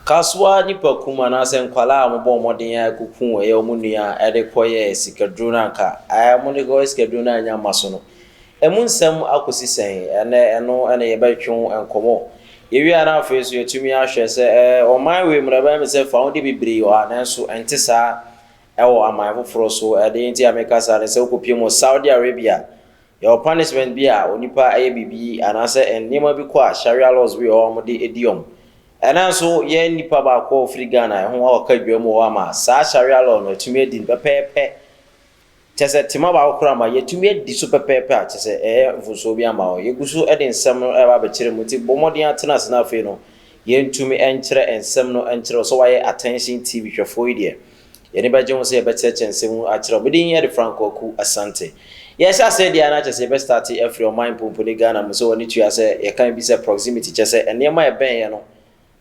Kasoa, nnipa kum anaasɛ nkwadaa a wɔbɔɔ mmɔden ara kɔku ɛyɛ wɔn nua a ɛde kɔyɛɛ sikaduro no anka ɛɛ wɔn de kɔyɛɛ sikaduro no annya mma so no. Ɛmu nsɛm akɔsi sɛn? Ɛnnɛ ɛno na yɛbɛtwe ho nkɔmmɔ. Yɛwie a na afei nso yɛatumi ahwɛ sɛ ɛɛ ɔman wei mu no ɛbɛyɛ me sɛ fawodeɛ bebree wɔ ha nanso ɛnte saa wɔ aman foforɔ so. Ɛdeɛ nti a meka saa ne sɛ wokɔpie mu wɔ Saudi Arabia Yɛwɔ punishment bi a onipa yɛ biribi anaasɛ nneɛma bi kɔ a Sharia laws bi wɔ hɔ a wɔde di wɔn. Ɛna nso yɛn nipa baako a ɔfiri Ghana ɛho a ɔka dwam wɔ hɔ ama saa Sharia law no atumi adi no pɛpɛɛpɛ. Kyɛ sɛ tema baako koraa ma yɛatumi adi so pɛpɛɛpɛ a kyɛ sɛ ɛyɛ mfomsoɔ bi ama wɔn. Yɛgu so de nsɛm no ɛreba abɛkyerɛ mu nti bɔ mmɔden ara tena ase na afei no yɛntumi nkyerɛ nsɛm no nkyerɛ wo sɛ woayɛ attention TV hwɛfoɔ yi deɛ. Yɛn ani bɛgye ho sɛ yɛbɛkyerɛkyerɛ nsɛm mu akyerɛ wo. Me din de Frank Kwaku Asante. Yɛrehyɛ aseɛ deɛ a na kyerɛ sɛ yɛbɛ starte afiri ɔman mpomponi Ghana mu sɛ w'ani tua sɛ yɛka bi sɛ proximity kyerɛ sɛ nneɛma a ɛbɛn yɛn no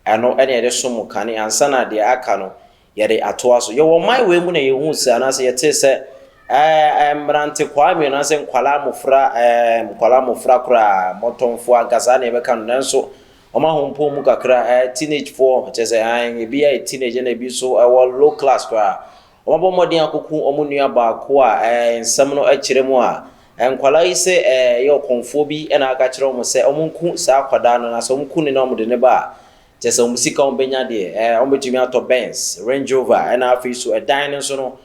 ɛno na yɛde som kane ansa na deɛ aka no yɛde atoa so. Yɛwɔ ɔman wei mu na yɛhuu sɛ anaasɛ yɛtee sɛ ɛɛ mmerante kwaa mmienu anaasɛ nkwadaa mmofra ɛɛ nkwadaa mmofra koraa mmɔtɔmfoɔ anka saa na yɛbɛka no nanso Wɔn ahompɔn mu kakra ɛyɛ teenage foɔ, kyerɛ sɛ ae, ebi yɛ teenage ɛna ebi nso ɛwɔ low class koraa. Wɔabɔ mmɔden akoko wɔn nua baako a ɛɛ nsɛm no kyerɛ mu a, nkwadaa yi sɛ ɛɛ ɛyɛ ɔkɔmfoɔ bi ɛna aka akyerɛ wɔn sɛ wɔn nku saa akwadaa no na sɛ wɔn ku no na wɔn de no ba a, kyerɛ sɛ wɔn sika a wɔn bɛnya deɛ ɛɛ wɔn bɛtumi atɔ Benz, Range Rover ɛna afei nso ɛdan no nso no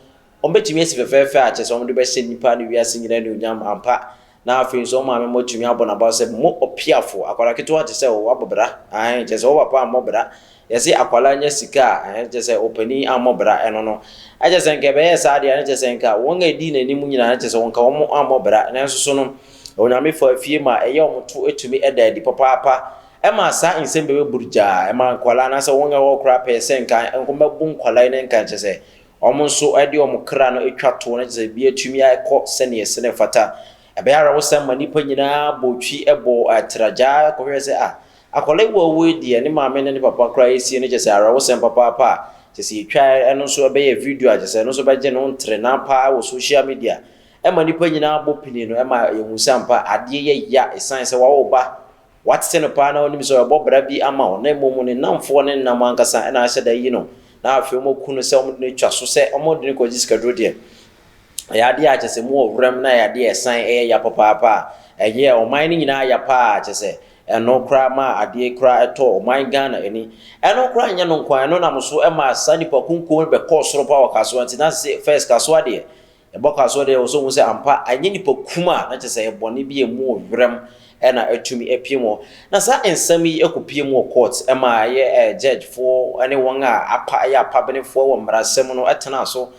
Wɔbɛtumi asi fɛfɛɛfɛ a kyerɛ sɛ wɔde bɛhyɛ nnipa ne wiase nyinaa anuonyam ampa, na afei nso wɔn maame mmɔ tumi abɔ no abaw sɛ, Mo ɔpeafo, akwadaa ketewa te sɛ wo abɔ bra, aane, kyerɛ sɛ wo papa ammɔ bra. Yɛse akwadaa nya sika a, ɛno kyerɛ sɛ ɔpanin ammɔ bra, ɛno no. Na kyerɛ sɛ nka ɛbɛyɛɛ saa deɛ a, na kyerɛ sɛ nka wɔn a ɛdii n'anim nyinaa, na kyerɛ sɛ nka wɔn ammɔ bra. Nanso so no, Onyame faa fie ma ɛyɛ wɔn to tumi da adi papaapa. Ɛmaa saa nsɛm bɛbɛ burugyaa, ɛmaa nkwadaa anaasɛ wɔn a ɛwɔ hɔ koraa pɛɛ sɛ nka wɔmmɛbo nkwadaa yi ne nka kyerɛ sɛ Wɔn nso de wɔn kra no twa toɔ na kyerɛ sɛ biribiara tumi kɔ sɛdeɛ ɛsɛ na ɛfata. Ɛbɛyɛ awerɛhosɛm ma nnipa nyinaa bɔ twi bɔ tra gyaa kɔhwehwɛ sɛ, Ah, akwadaa yi wawu yi deɛ, ne maame ne ne papa koraa asie no, kyerɛ sɛ awerɛhosɛm papaapa a kyerɛ sɛ yɛtwaeɛ. Ɛno nso bɛyɛ video a kyerɛ sɛ ɛno nso bɛgye no ntrena paa wɔ social media. Ɛma nnipa nyinaa bɔ pini no, ɛma yɛhu sɛ ampa adeɛ yɛ ya ɛsiane sɛ wawo ba Woate no paa na wonim sɛ ɔrebɔ bra bi ama wo, na mmom ne nnamfoɔ ne ne nam ankasa na ahyɛ da ayi no, na afei wɔaku no sɛ wɔde no atwa so sɛ wɔde no kɔgye sikaduro deɛ. Ɛyɛ adeɛ a kyerɛ sɛ mowɔ wuram na ɛyɛ adeɛ a ɛsan yɛ ya papaapa a ɛyɛɛ ɔman no nyinaa ya paa, kyerɛ sɛ ɛno koraa maa adeɛ koraa tɔɔ ɔman Ghana ani. Ɛno koraa nyɛ no nko ara, ɛno nam so maa saa nnipa kunkuo no bɛkɔɔ soro paa wɔ Kasoa nti na first Kasoa deɛ Yɛbɔ kasoɔ deɛ, wɔsɔ hu sɛ ampa ɛnyɛ nnipa kum a na kyerɛ sɛ ɛyɛ bɔne bi a ɛmu wɔ werɛm na atumi apue mu hɔ. Na saa nsɛm yi kɔpue mu wɔ court ma ɛyɛ judge foɔ ne wɔn a apa yɛ apabenefoɔ wɔ mmarasɛm no tenaa so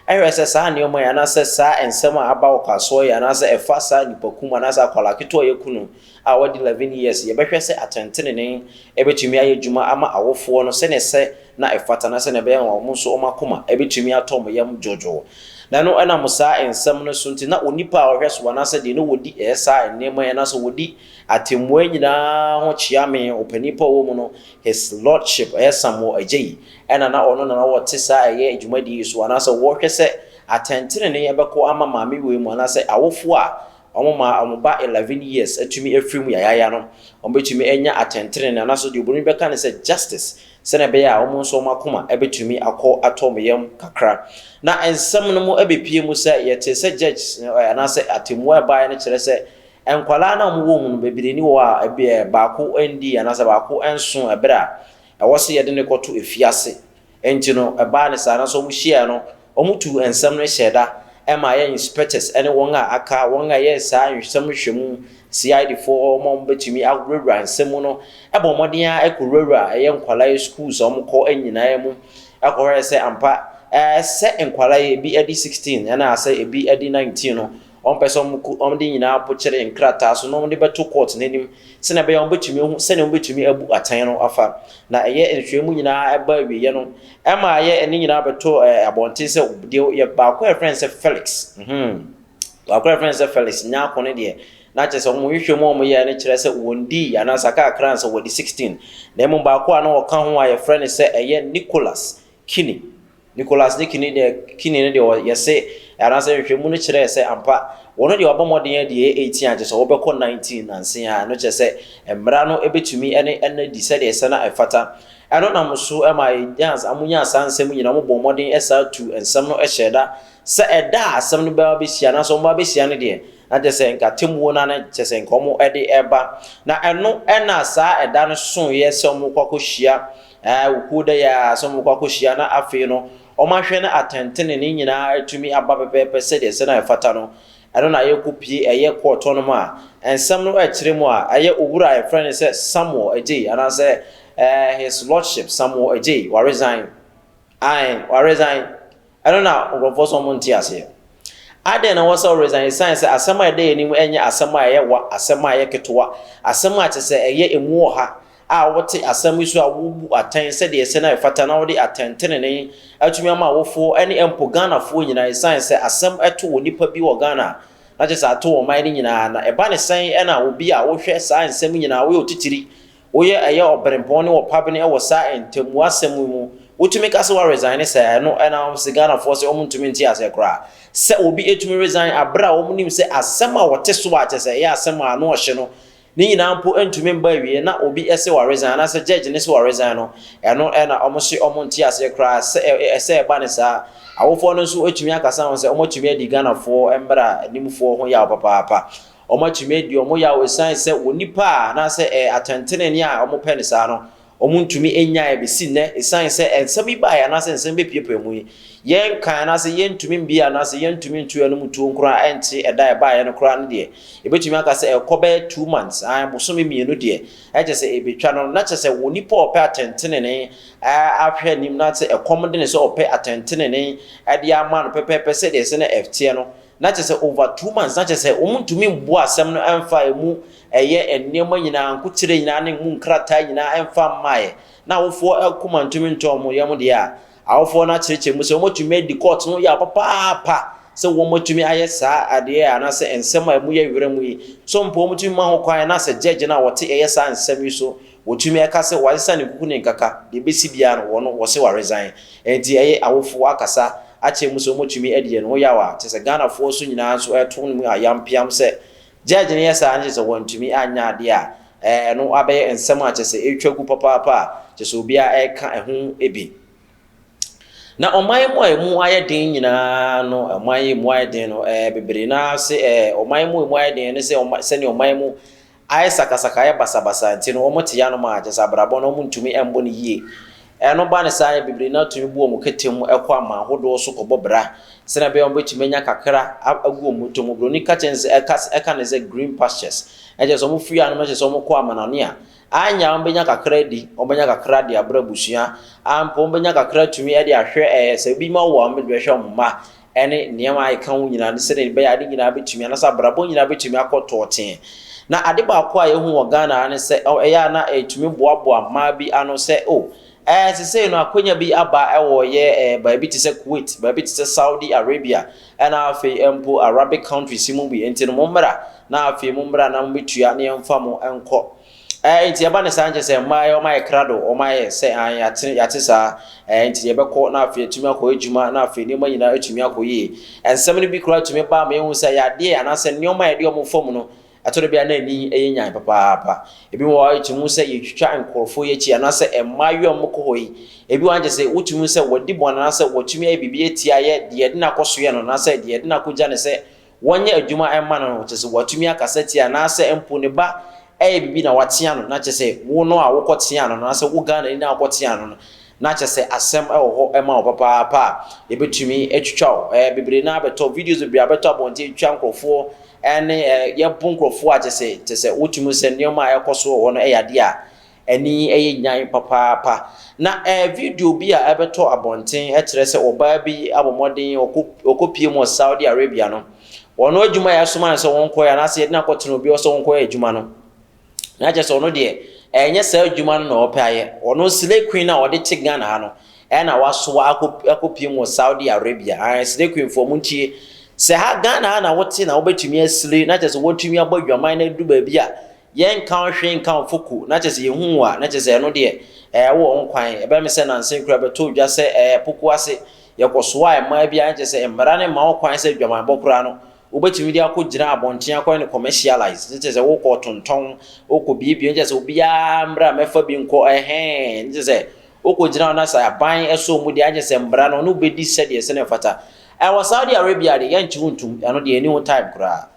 hwɛɛ sɛ saa nneɛma yi anaasɛ saa nsɛm a aba wɔ kasoɔ yi anaasɛ ɛfa saa nnipa kum anaasɛ akwadaa ketewa a yɛku no a wadi 11 years, yɛbɛhwɛ sɛ atɛntenenee bɛtumi ayɛ adwuma ama awofoɔ no sɛdeɛ ɛsɛ na ɛfata na sɛdeɛ ɛbɛyɛ na wɔn nso wɔn akoma bɛtumi atɔ wɔn yam dwoodwoo. Na ɛno ɛnam saa nsɛm no so nti na onipa a ɔhwɛ so anaasɛ deɛ na ɔdi saa nneɛma yi anaasɛ ɔdi atɛmmuo yi nyinaa ho kyea me, ɔpanin pa a ɔwɔ mu no, His Lordship, ɛyɛ Samuel Adjei, ɛna na ɔno na na ɔte saa ɛyɛ dwumadie yi so anaasɛ ɔhwɛ sɛ atɛntenenee bɛkɔ ama maame wei mu anaasɛ awofoɔ a Wɔma wɔn ba eleven years tumi firi mu yayaaya no, wɔbɛtumi anya atɛntenenee, anaasɛ deɛ Oburoni bɛka no sɛ justice, sɛdeɛ ɛbɛyɛ a wɔn nso wɔn akoma bɛtumi akɔ atɔ wɔn yam kakra. Na nsɛm no mu bɛpue mu sɛ, yɛtee sɛ judges no, anaasɛ atɛmmuo a ɛbaeɛ no kyerɛ sɛ, nkwadaa no a wɔwɔ wɔn mu no, bebree ni wɔ hɔ a baako nnii anaasɛ baako nsoo ɛberɛ a ɛwɔ sɛ yɛde no kɔto afiase Enti no, ɛbaa no saa, nanso wɔhyiae no, wɔtuu nsɛm no hyɛɛ da ma yɛn inspectors ne wɔn a aka, wɔn a ɛyɛ saa nsɛm nhwɛmu, CID foɔ, wɔn a wɔbɛtumi awurawura nsɛm mu no bɔɔ mmɔden ara kɔwurawuraa ɛyɛ nkwadaa schools a wɔkɔ nyinaa mu kɔhwɛɛ sɛ ampa sɛ nkwadaa yi ebi adi sixteen anaa sɛ ebi adi nineteen no, Wɔmpɛ sɛ wɔku wɔn de nyinaa pokyere nkrataa so na wɔde bɛto kɔɔto no anim sɛnea ɛbɛyɛ a wɔbɛtumi ahu sɛnea wɔbɛtumi abu atɛn no afa. Na ɛyɛ nhwehwɛmu nyinaa ɛbaa awieeɛ no, ɛmaa yɛ ɛne nyinaa bɛtoo abɔnten sɛ deɛ yɛ baako a yɛfrɛ no sɛ Felix, mm-hmm, baako a yɛfrɛ no sɛ Felix Nyarko no deɛ, na kyerɛ sɛ wɔn nhwehwɛmu a wɔyɛeɛ no kyerɛ sɛ wɔdii anaasɛ kakra ansa wɔadi 16, na mmom baako a na ɔka ho a yɛfrɛ no sɛ ɛyɛ Nicholas Kinney. Nicholas ne Kinney deɛ, Kinney no deɛ yɛse anaasɛ nhwehwɛmu no kyerɛɛ sɛ ampa wɔn deɛ wɔabɔ mmɔden adi ɛyɛ 18 a kyesɛ wɔbɛkɔ 19 nanse a ɛno kyerɛ sɛ mmara no bɛtumi ne ɛno adi sɛdeɛ ɛsɛ na ɛfata ɛno nam so ma yɛnyaa wɔn nyaa saa nsɛm nyinaa wɔn bɔɔ mmɔden ɛsaa tu nsɛm no hyɛɛ da sɛ ɛda a asɛm no bɛba bɛhyia anaasɛ wɔn ba bɛhyia no deɛ na kyerɛ sɛ nka atemmuo no na kyerɛ sɛ nka wɔn de ɛba na ɛno ɛna saa ɛda no soeɛ sɛ wɔn kɔ akɔhyia Ɛɛ, wo kuo da yi ara sɛ wɔbɛkɔ akɔhyia na afei no wɔahwɛ na atɛntenenee nyinaa atumi aba pɛpɛɛpɛ sɛdeɛ sɛ na ɛfata no, ɛno na yɛkɔpue ɛyɛ kɔɔt hɔ nom a nsɛm no ɛkyerɛ mu a ɛyɛ Owura a yɛfrɛ no sɛ Samuel Adjei anaasɛ ɛɛ His Lordship Samuel Adjei waresign. Ae, ɔresan. Ɛno na nkurɔfoɔ sɛ wɔn nte aseɛ. Adɛn na ɛwɔ sɛ ɔresan? Esiane sɛ asɛm a ɛda yɛn anim nyɛ asɛm a ɛyɛ wa, asɛm a ɛyɛ ketewa, asɛm a kyerɛ sɛ ɛyɛ emu ɔha a wote asɛm yi so a wobu atɛn sɛdeɛ ɛsɛ na ɛfata na wode atɛntenenee atumi ama awofoɔ ne mpo Ghanafoɔ nyinaa esiane sɛ asɛm to onipa bi wɔ Ghana a na kyerɛ sɛ ato ɔman no nyinaa na ɛba ne sɛn na obi a wohwɛ saa nsɛm nyinaa woyɛ otitiri Woyɛ ɛyɛ ɔbrempɔn ne ɔpabene wɔ saa ntamu asɛm yi mu. Wotumi ka sɛ woaresigne sɛ ɛno na ama wɔte sɛ Ghanafoɔ sɛ wɔn ntumi nte aseɛ koraa. Sɛ obi ɛtumi resigne aberɛ a wɔn nim sɛ asɛm a wɔte so a kyɛsɛ ɛyɛ asɛm a ano ɔhye no ne nyinaa mpo ntumi mba awieɛ na obi ɛse woaresigne anaasɛ judge no se woaresigne no ɛno na wɔn se wɔn nte aseɛ koraa sɛ ɛsɛ ɛba no saa. Awofoɔ no nso ɛtumi akasa ho sɛ wɔn atumi adi Ghanafoɔ mmra nimfoɔ ho yaw papaapa. Wɔatumi adi wɔn yaw esiane sɛ wɔn nnipa a anaasɛ ɛɛ atɛntenenee a wɔpɛ no saa no, wɔntumi nnyae besi nnɛ esiane sɛ nsɛm yi bae anaasɛ nsɛm bepuepue mu yi, yɛnkan anaasɛ yentumi mbue anaasɛ yentumi nto yɛn anom tuo koraa ɛnte ɛda a ɛbaeɛ no koraa no deɛ, yɛbetumi aka sɛ ɛkɔ bɛyɛ two months, aane, bosome mmienu deɛ, ɛkyɛ sɛ ebetwa no, na kyɛ sɛ onipa a ɔpɛ atɛntenenee ara ahwɛ anim na sɛ ɛkɔm de no sɛ ɔpɛ atɛntenenee de ama no pɛpɛɛpɛ sɛdeɛ ɛsɛ na ɛteɛ no, Na kyerɛ sɛ over two months, na kyerɛ sɛ wɔntumi mmoa asɛm no mfa ɛmu ɛyɛ nneɛma nyinaa, nkokyerɛ nyinaa ne ɛmu nkrataa nyinaa mfa mmaeɛ, na awofoɔ akoma ntumi ntɔ wɔn yam deɛ a, awofoɔ no akyerɛkyerɛ mu sɛ wɔatumi adi court ho yaw papaapa sɛ wɔatumi ayɛ saa adeɛ anaasɛ nsɛm a ɛmu yɛ werɛm yi. So mpo wɔtumi ma ho kwan na sɛ judge no a ɔte ɛyɛ saa nsɛm yi so Wɔtumi ɛka sɛ wasesa ne kuku ne nkaka, deɛ ɛbɛsi biara no wɔn wɔse wa resign. Ɛnti ɛyɛ awofo wakasa akyerɛ mu sɛ wɔtumi adi yɛn ho yaw a, kyerɛ sɛ Ghanafoɔ nso nyinaa nso ɛto no mu ayam piam sɛ Judge no yɛ saa no kyerɛ sɛ wantumi anyɛ adeɛ a ɛno abɛyɛ nsɛm a kyerɛ sɛ ɛretwa gu papaapa a kyerɛ sɛ obiara ɛreka ɛho bi. Na ɔman mu a ɛmu ayɛ den nyinaa no, ɔman yi ɛmu ayɛ den no, bebree no ara se ɔman mu ɛmu ayɛ den ne sɛ sɛdeɛ ɔman mu Ayɛ sakasaka, ayɛ basabasa nti no wɔte yanom a kyerɛ sɛ abrabɔ no wɔntumi mmɔ no yie. Ɛno ba no saa a, bebree no ara tumi bu wɔn kete mu kɔ aman hodoɔ so kɔbɔ bra sɛdeɛ ɛbɛyɛ a wɔbɛtumi anya kakra agu wɔn bɔtɔ mu. Buroni ka kyerɛ no sɛ, ɛka sɛ, ɛka no sɛ green pastures. Ɛkyerɛ sɛ wɔfiri yanom kyerɛ sɛ wɔkɔ amanane a, anyɛ a wɔbɛnya kakra adi, wɔbɛnya kakra de abrɛ abusua, ampa wɔbɛnya kakra atumi de ahwɛ ɛɛ sɛ ebi mma wɔ a wɔde bɛhwɛ wɔn mma. ne nneɛma a ɛka ho nyinaa, ne sɛdeɛ ɛbɛyɛ a ade nyinaa bɛtumi, anaasɛ abrabɔ nyinaa bɛtumi akɔ tɔɔtee. Na ade baako a yɛhu wɔ Ghana ara ne sɛ, ɛyɛ a na ɛtumi boaboa mmaa bi ano sɛ, o, ɛɛ sesei no akwanya bi aba wɔ yɛ ɛɛ baabi te sɛ Kuwait, baabi te sɛ Saudi Arabia, ɛna afei mpo Arabic countries mu bi, nti no mommra, na afei mommra na mobɛtua na yɛmfa mo nkɔ. Ɛɛ, nti ɛba ne saa nkyɛ sɛ mmaa yɛ, wɔayɛ krado, wɔayɛ sɛ ae, yɛate, yɛate saa, ɛɛ, nti yɛbɛkɔ na afei atumi akɔ adwuma na afei nneɛma nyinaa atumi akɔ yie. Nsɛm no bi koraa tumi ba ma yɛhu sɛ yadeɛ anaasɛ nneɛma a yɛde wɔn fam no, ɛtɔ da bi a na ani yɛ nyan papaapa. Ebi wɔ hɔ a yɛtumi hu sɛ yɛtwitwa nkurɔfoɔ yi akyi anaasɛ mmaayewa a wɔkɔ hɔ yi, ebi wɔ hɔ a kyerɛ sɛ wotumi hu sɛ wɔadi bɔne anaasɛ wɔatumi ayɛ biribi atia yɛ, deɛ yɛde no akɔsoɛ no anaasɛ deɛ yɛde no akɔgya no sɛ wɔnyɛ adwuma mma no no, kyerɛ sɛ watumi akasa atia, anaasɛ mpo ne ba reyɛ biribi na watea no, na kyerɛ sɛ wo no a wokɔteaa no no, anaasɛ wo Ghanani no a wokɔteaa no no, na kyerɛ sɛ asɛm wɔ hɔ ma wo papaapa a, yɛbɛtumi atwitwa wo. Ɛɛ, bebree no ara bɛtɔ, videos bebree abɛtɔ abɔnten atwitwa nkurɔfoɔ, ɛne ɛɛ, yɛbo nkurɔfoɔ a kyerɛ sɛ, kyerɛ sɛ wotumi hu sɛ nneɛma a ɛrekɔ so wɔ hɔ no yɛ adeɛ a Ani yɛ Nyan! papaapa. Na ɛɛ video bi a ɛbɛtɔ abɔnten kyerɛ sɛ ɔbaa bi abɔ mmɔden ɔkɔpue mu wɔ Saudi Arabia no, wɔn adwuma a yɛasoma no sɛ wɔnkɔyɛ anaasɛ yɛde no akɔtena obi hɔ sɛ ɔnkɔyɛ adwuma no, na kyerɛ sɛ ɔno deɛ ɛnyɛ saa adwuma no na ɔpɛ ayɛ. Ɔno Slay Queen a wɔde te Ghana ha no na wasoa akɔ akɔpue mu wɔ Saudi Arabia. Ae Slay Queen foɔ montie. Sɛ ha Ghana ha na wote na wobɛtumi aslay na kyerɛ sɛ woatumi abɔ adwaman na aduru baabi a, Yɛnka wo hwee nka wo foko na kyɛsɛ yɛhu wo a na kyɛsɛ ɛno deɛ ɛɛ wowɔ ho kwan. Ɛbɛyɛ me sɛ nansa yi koraa bɛtɔɔ dwa sɛ ɛɛ poko ase yɛkɔsoaa mmaa bi a na kyɛsɛ mmara no mma wo kwan sɛ adwamanbɔ koraa no wobɛtumi de akɔ gyina abɔnten akɔyɛ no commercialise na kyɛsɛ wokɔ ɔtontɔn wokɔ biebie na kyɛsɛ obiara mmra mmɛfa bi nkɔ ɛhɛɛ na kyɛsɛ wokɔ gyina hɔ na sɛ aban ɛsɔ wɔn deɛ na kyɛsɛ mmara no ɔne wo bɛdi sɛdeɛ sɛdeɛ ɛfata. Ɛɛ wɔ Saudi Arabia deɛ yɛngye wo ntom ɛno deɛ yɛnni ho time koraa.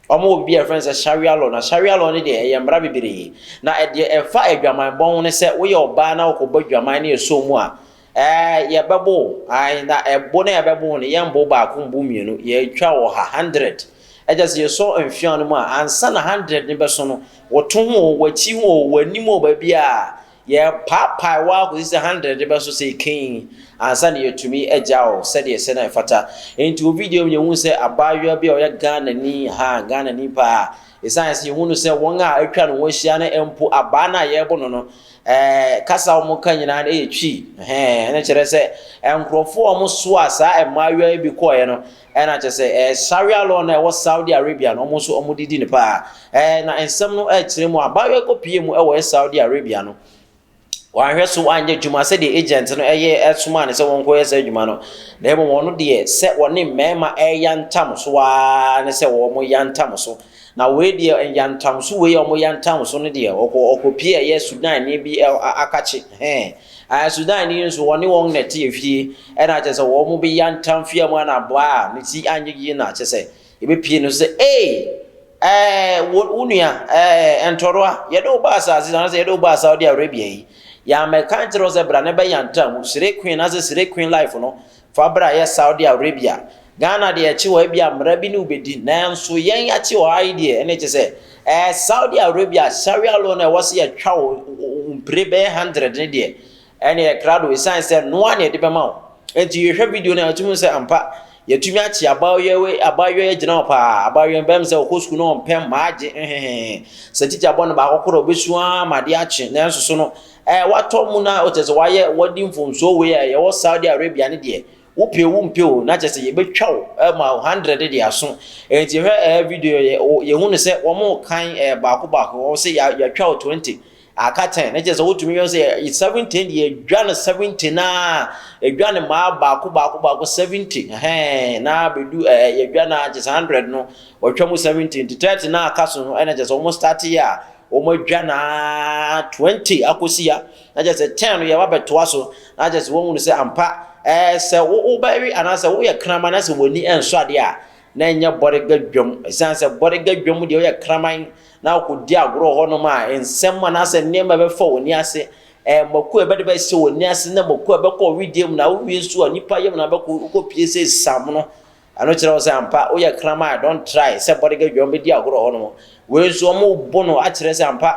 Wɔn wɔ biribi a yɛfrɛ no sɛ Sharia law. Na Sharia law no deɛ ɛyɛ mmara bebree. Na ɛdeɛ ɛfa adwaman bɔ ho ne sɛ woyɛ ɔbaa na wokɔbɔ adwaman na ɛsɔɔ mu a, ɛɛ yɛbɛbo wo. Ae, na ɛbo no a yɛbɛbo wo no, yɛmbo wo baako, mbo wo mmienu. Yɛtwa wo ɔha, hundred. Ɛkyerɛ sɛ yɛsɔ mfeaa no mu a, ansa na hundred no bɛso no, wo to ho o, w'akyi ho o, w'anim o, baabiara, Yɛrepaepae wo ara kɔsi sɛ handerɛde bɛso sɛ ekenn ansa na yɛatumi agya wo sɛdeɛ ɛsɛ na ɛfata. Enti wɔ video mu no yɛhuu sɛ abaayewa bi a ɔyɛ Ghanani, ha, Ghanani paa, ɛsiane sɛ yɛhunu no sɛ wɔn a atwa ne ho ahyia no mpo abaa no a yɛrebo no no, ɛɛ, kasa a wɔka nyinaa no yɛ Twi, ɛhɛɛ, ɛno kyerɛ sɛ nkorɔfoɔ a wɔsoaa saa mmaayewa yi bi kɔeɛ no, Ɛna kyerɛ sɛ ɛɛ Sharia law no a ɛwɔ Saudi Arabia no, wɔn nso wɔde di no paa. Ɛɛ na nsɛm no rekyerɛ mu a, abaayewa yi kɔpuee mu wɔ ɛɛ Saudi Arabia no, wanhwɛ so anyɛ adwuma sɛdeɛ agent no yɛ somaa no sɛ wɔnkɔyɛ saa adwuma no, na mmom ɔno deɛ sɛ ɔne mmarima reyantam so ara ne sɛ wɔyantam so. Na wei deɛ nyantamso wei a wɔyantamso no deɛ ɔkɔ ɔkɔpie ɛyɛ Sudanni bi ɛ a akakye hɛn ɛɛ Sudanni yi nso wɔne wɔn na ɛte efie ɛna kyɛ sɛ wɔn bi yantam fie mu ɛna boa a ne ti anyɛ yie na kyɛ sɛ ebepie no sɛ ee ɛɛ wo wo nua ɛɛ ntɔroa yɛde wo ba asaase anasɛ yɛde wo ba Saudi Arabia yi yɛamɛka nkyerɛ wo sɛ bra ne bɛyantam Sire Queen anasɛ Sire Queen life no Fa bra yɛ Saudi Arabia. Ghana deɛ ɛkye hɔ ebia mmara bi ne wo bɛdi nanso yɛn akye hɔ ha yi deɛ ɛne kye sɛ ɛɛ Saudi Arabia Sharia law no ɛwɔ sɛ yɛtwa wo mpire bɛyɛ hundred ne deɛ ɛne ɛkrado ɛsiane sɛ noa ne ɛde bɛma wo nti yɛhwɛ video no ɛtumi sɛ ampa yɛtumi akye abaayewa abaayewa agyina hɔ paa abaayewa mbɛm sɛ ɔkɔ sukuu no ɔmpɛ mmaa gye hehehe sɛ tikya bɔ no baako korɔ ɔbɛsu ara ma adeɛ akye nanso so no a watɔ mu na kyerɛ sɛ wayɛ wadi mfomsoɔ wei a yɛwɔ Saudi Arabia ne deɛ wopɛ wo mpɛ o na kyerɛ sɛ yɛbɛtwa wo ma wo hundred de aso nti hwɛ ɛɛ video yɛ yɛhu no sɛ wɔn kan ɛɛ baako baako wɔn sɛ yɛatwa wo twenty aka ten na kyerɛ sɛ wotumi yɛ sɛ yɛ seventeen deɛ yɛdwa no seventy na yɛdwa no maa baako baako baako seventy hɛn na bɛdu ɛɛ yɛdwa na kyerɛ sɛ hundred no wɔtwa mu seventy nti thirty na aka so no ɛna kyerɛ sɛ wɔn start yɛ a Wɔadwa no ara twenty akɔsi ha, na kyerɛ sɛ ten no yɛreba abɛtoa so, na kyerɛ sɛ wɔahunu sɛ ampa, ɛɛ, sɛ wo, wobɛwe anaasɛ woyɛ kraman na sɛ w'ani nsɔ adeɛ a, na ɛnyɛ bɔdega dwam. Ɛsiane sɛ bɔdega dwam deɛ woyɛ kraman na wokɔdi agorɔ wɔ hɔnom a, nsɛm anaasɛ nneɛma a ɛbɛfa w'ani ase, ɛɛ, mako a ɛbɛde bɛhyɛ w'ani ase na mako a ɛbɛkɔ wo wedeɛ mu, na wowie nso a, nnipa yam na wobɛkɔ, wokɔpue sɛ samono, Ɛno kyerɛ wo sɛ ampa woyɛ kraman don't try sɛ body girl dwom bɛdi agorɔ hɔ nom wei nso ɔmo bo no akyerɛ sɛ ampa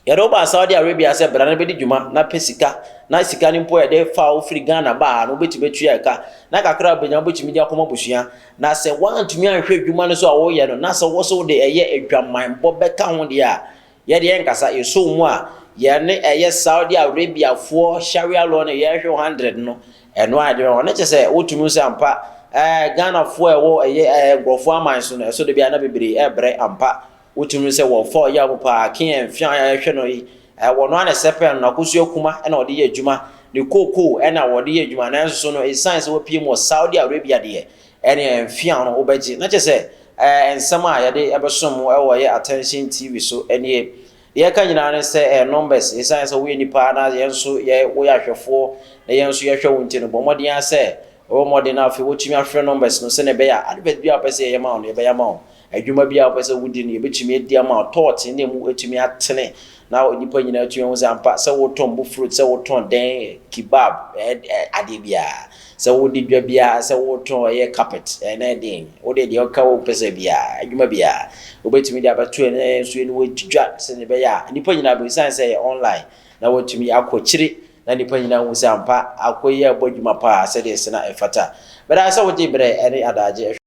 yɛde wo baa Saudi Arabia sɛ bra na bɛdi dwuma na pɛ sika na sika no mpo yɛde fa wo firi Ghana ba ha no wobɛtumi atua ɛka na kakra a wobɛnya wobɛtumi de akɔma abusua na sɛ woantumi anhwɛ adwuma no so a woyɛ no na sɛ wo so wode ɛyɛ adwamanbɔ bɛka ho deɛ a Yɛ deɛ nkasa yɛsoo mu a yɛne ɛyɛ Saudi Arabia foɔ Sharia law no yɛhwɛ wo hundred no ɛno a ɛdeɛ ɔno kyɛ sɛ wotum hu sɛ ampa ɛɛ Ghana foɔ ɛwɔ ɛyɛ ɛɛ nkorɔfoɔ aman so no ɛso de bia na bebree ɛbrɛ ampa wotum hu sɛ wɔfa ɔya mu paa King Ɛnfia a yɛhwɛ no yi ɛɛ wɔno ara na ɛsɛ pɛɛ no nakosu akuma ɛna ɔde yɛ adwuma ne cocoa ɛna wɔde yɛ adwuma nanso so no ɛsiane sɛ wapiem wɔ Saudi Arabia deɛ Ɛneɛ mfe a ɔno wobɛgye. Na kyerɛ sɛ ɛɛ nsɛm a yɛde bɛsom mo wɔ yɛ Attention TV so nie. Deɛ ɛka nyinaa ne sɛ ɛɛ numbers, ɛsiane sɛ woyɛ nipa na yɛn nso yɛ woyɛ ahwɛfoɔ na yɛn nso yɛhwɛ wo nti no, bɔ mmɔden ara sɛ wobɔ mmɔden na afei woatumi afrɛ numbers no sɛdeɛ ɛbɛyɛ a advert biara a wopɛ sɛ yɛyɛ ma wo no yɛbɛyɛ ama wo. Adwuma biara a wopɛ sɛ wodi no, yebetumi adi ama wo. Tɔ ɔtene na emu atumi atene na nnipa nyinaa atumi ahu sɛ ampa, sɛ wotɔn bo fruit, sɛ wotɔn dɛn, kebab, ɛɛ, adeɛ biara, sɛ wode dwa biara, sɛ wotɔn ɛyɛ carpet, ɛɛ, na ɛdeɛn, wode deɛ ɔka wo pɛ sɛ biara, adwuma biara, wobetumi de abɛto yɛn na yɛn nso yɛne wo adi dwa sɛdeɛ ɛbɛyɛ a nnipa nyinaa behu, esiane sɛ ɛyɛ online na wɔatumi akɔ akyire na nnipa nyinaa hu sɛ ampa Ako yi rebɔ adwuma pa ara sɛdeɛ ɛsɛ na ɛfata. Meda wo ase sɛ wogyee berɛ ne adaagye hwɛɛ.